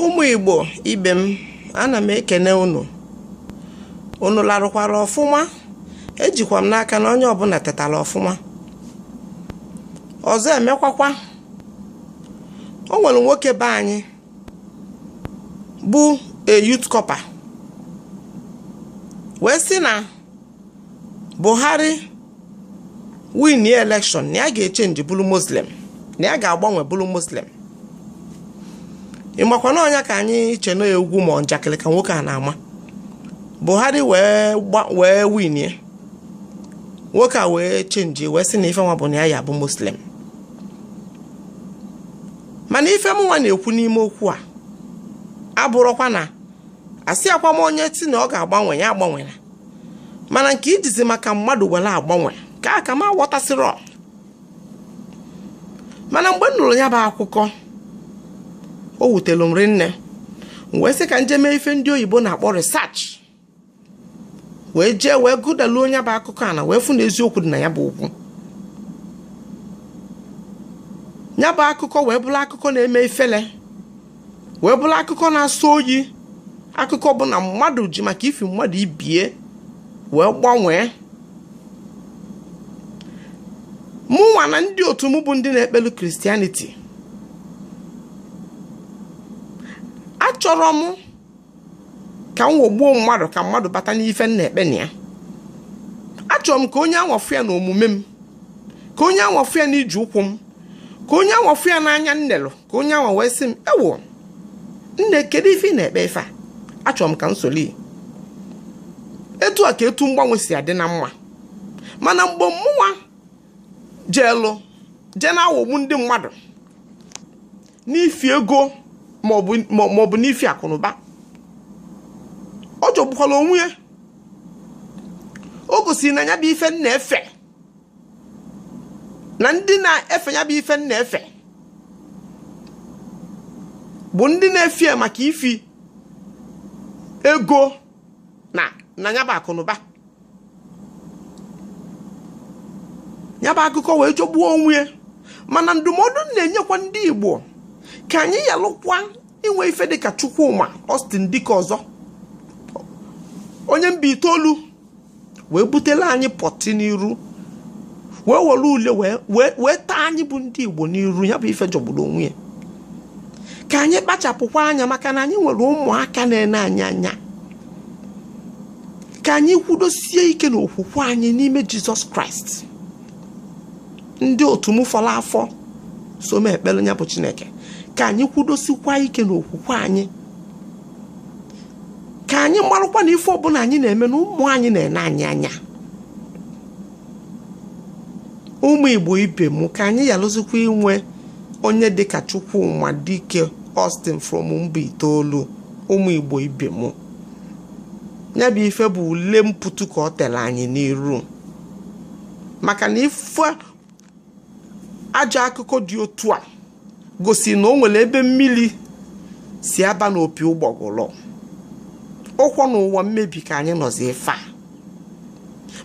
ụmụ igbo ibe m ana m ekene unu unu larụkwara ọfụma ejikwa m n'aka na onye ọbụla tetara ọfụma ọzọ emekwakwa o nwere nwoke be anyị bụ youth corper wee sị na buhari winie election na ya ga-echenji bụrụ muslim na ya ga-agbanwe bụrụ muslim ị makwa na ọ nya ka anyị che na egwu ma njakịrị ka nwoke a na-ama buhari wee wee winie nwoke a wee chenji wee sị na ife nwa bụ na ya ya bụ muslim mana ife mụnwa na-ekwu n'ime okwu a abụrọkwa na asịkwa m onye ti na ọ ga-agbanwe ya agbanwela mana nke ijizi maka mmadụ were agbanwe ka aka m aghọtasịrọ mana mgbe m nụrụ ya bụ akụkọ o wutere m rinne wee sị ka m je mee ife ndị oyibo na-akpọ research wee jee wee gụdaluo nya bụ akụkọ ana wee fụ na eziokwu dị na ya bụ okwu ya bụ akụkọ wee bụrụ akụkọ na-eme ifele wee bụrụ akụkọ na-asọ oyi akụkọ bụ na mmadụ ji maka ifi mmadụ ibe ya wee gbanwee mụnwa na ndị otu m bụ ndị na-ekpelu christianity achọrọ m ka m wọgbuo mmadụ ka mmadụ bata n'ife m na-ekpe na ya achọrọ m ka onye anwa fụ ya na omume m ka onye anwa fụ ya na ije ụkwụ m ka onye anwa fụ ya n'anya m nelụ ka onye anwa wee sị m ewo nne kedu ife ị na-ekpe ife a achọrọ m ka m soli etu a ka etu mgbanwe si adị na mma mana mgbe mụnwa jeelụ jee na-awọgbu ndị mmadụ n'ifi ego maọbụ n'ifi akụnụba ọ jọgbukwala onwe ya o gosiri na ya bụ ife m na-efe na ndị na-efe ya bụ ife m na-efe bụ ndị na-efe maka ifi ego na nya bụ akụnụba ya bụ akụkọ wee jọgbuo onwe ya mana ndụmọdụ m na-enyekwa ndị Igbo ka anyị yalụkwa inwe ife dịka Chukwuma Austin Dike ọzọ onye Mbaitolu wee butere anyị pọtị n'iru wee were ule wee tee anyị bụ ndị igbo n'iru ya bụ ife jọgburu onwe ya ka anyị kpachapụkwa anya maka na anyị nwere ụmụaka na-ene anyị anya ka anyị kwudosie ike na okwukwe anyị n'ime jizọs kraịst ndị otu m fọrọ afọ so m ekpere ya bụ chineke ka anyị kwudosikwa ike na okwukwe anyị ka anyị marụkwa na ife ọbụla anyị na-eme na ụmụ anyị na-ene anyị anya ụmụ igbo ibe m ka anyị yalụzikwa inwe onye dịka chukwuma dike Austin from mba itoolu ụmụ igbo ibe m ya bụ ife bụ ule mpụtụ ka o tere anyị n'iru maka na ife ajọ akụkọ dị otu a gosi na o nwere ebe mmiri si aba n'opi ụgbọgụrụ ọkwa n'ụwa mmebi ka anyị nọzi ife a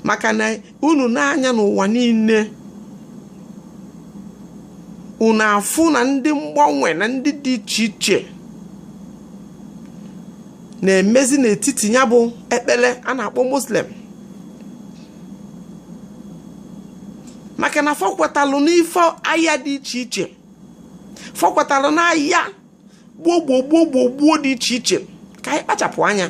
maka na unu nee anya n'ụwa niile unu afụ na ndị mgbanwe na ndị dị iche iche na-emezi n'etiti ya bụ ekpere a na-akpọ muslim maka na fọkwatalụ n'ife aya dị iche iche fọkwatalụ n'aya gbuo gbuo gbuo gbuo gbuo dị iche iche ka anyị kpachapụ anya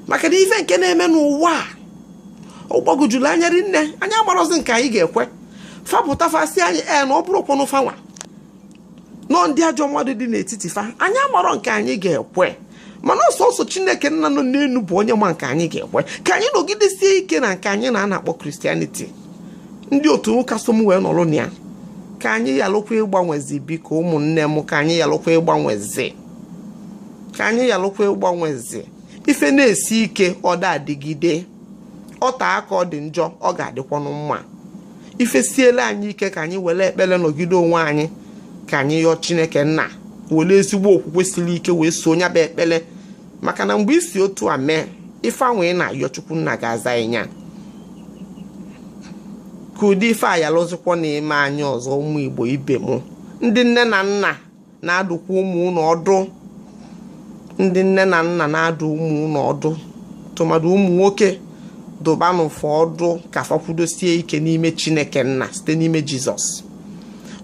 maka na ife nke na-eme n'ụwa a ọ gbagojuru anya rinne anyị amarọzi nke anyị ga-ekwe fa pụta fa sị anyị ee na ọ bụrọkwanụ fanwa na ọ ndị ajọ mmadụ dị n'etiti fa anyị amarọ nke anyị ga-ekwe mana ọ sọsọ chineke nna nọ n'enu bụ onye ma nke anyị ga-ekwe ka anyị nọgidesie ike na nke anyị nwa a na-akpọ kristianiti ndị otu ụka so m wee nọrọ na ya ka anyị yalụkwa ịgbanwezi biko ụmụnne m ka anyị yalụkwa ịgbanwezi ka anyị yalụkwa ịgbanwezi ife na-esi ike ọ da-adịgide o tee aka ọ dị njọ ọ ga-adịkwanụ mma ife siela anyị ike ka anyị were ekpere nọgide onwe anyị ka anyị yọọ chineke nna were ezigbo okwukwe siri ike wee so nya bụ ekpere maka na mgbe i si otu a mee ife ahụ ị na-ayọ chukwu nna ga-aza ị nya ka ụdị ife a yalụzikwa na-eme anyị ọzọ ụmụ igbo ibe m ndị nne na nna na-adụkwa ụmụ unu ọdụ ndị nne na nna na-adụ ụmụ unu ọdụ tụmadụ ụmụ nwoke dụbanụ fa ọdụ ka fa kwudosie ike n'ime chineke nna site n'ime jizọs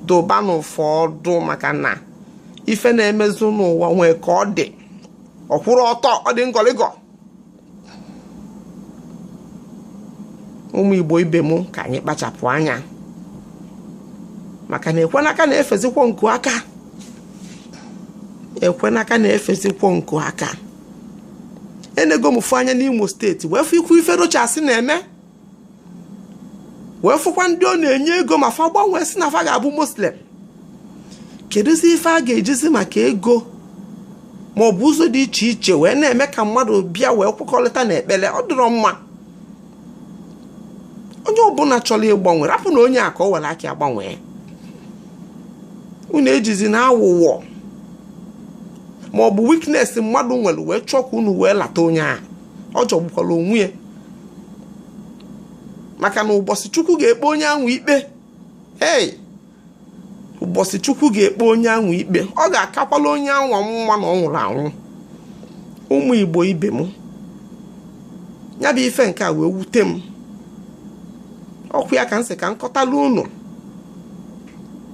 dụbanụ fa ọdụ maka na ife na-emezi n'ụwa nwee ka ọ dị ọ kwụrọ ọtọ ọ dị ngọlịgọ ụmụ igbo ibe m ka anyị kpachapụ anya maka na ekwenaka na-efezikwo nku aka ekwenaka na-efezikwo nku aka enego m fụ anya n'imo steeti wee fụkwuo ife rochas na-eme wee fụkwa ndị ọ na-enye ego ma fa gbanwee sị na fa ga-abụ muslim kedụzi ife a ga-ejizi maka ego ma ọ bụ ụzọ dị iche iche wee na-eme ka mmadụ bịa wee kwekọrịta na ekpere ọ dịrọ mma onye ọbụla chọrọ ịgbanwe rapụnụ onye a ka o were aka ya gbanwee unu ejizina awụwọ ma ọ bụ weakness mmadụ nwere wee chọọ ka unu wee lata onye ahụ ọ jọgbukwala onwe ya maka na ụbọchị chukwu ga-ekpe onye ahụ ikpe ee ụbọchị chukwu ga-ekpe onye ahụ ikpe ọ ga-akakwala onye ahụ mma na ọ nwụrụ anwụ ụmụ igbo ibe m ya bụ ife nke a wee wute m ọkwa ya ka m sị ka m kọtala unu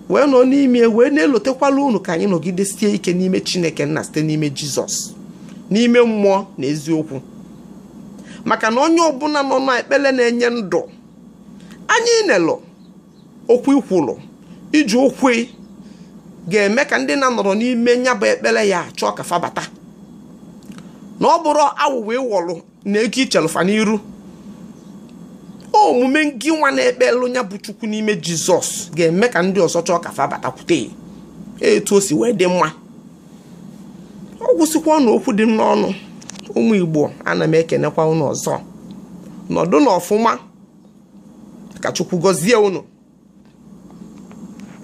wee nọ n'ime wee na-elotekwala unu ka anyị nọgidesie ike n'ime chineke nna site n'ime jizọs n'ime mmụọ na eziokwu maka na onye ọbụla nọ n'ekpere na-enye ndụ anyị nelụ okwu i kwulu iji okwu ga-eme ka ndị na-anọrọ n'ime nya bụ ekpere ya chọọ ka fa bata na ọ bụrọ awụwọ ị wọlụ na ego i chelụ fa n'iru omume ngị nwa na-ekpelụ nya bụ chukwu n'ime jizọs ga-eme ka ndị ọzọ chọọ ka fa batakwute etu o si wee dị mma ọ gwụsịkwanụ okwu dị m n'ọnụ ụmụ igbo ana m ekenekwa unu ọzọ nọdụnụ ọfụma ka chukwu gọzie unu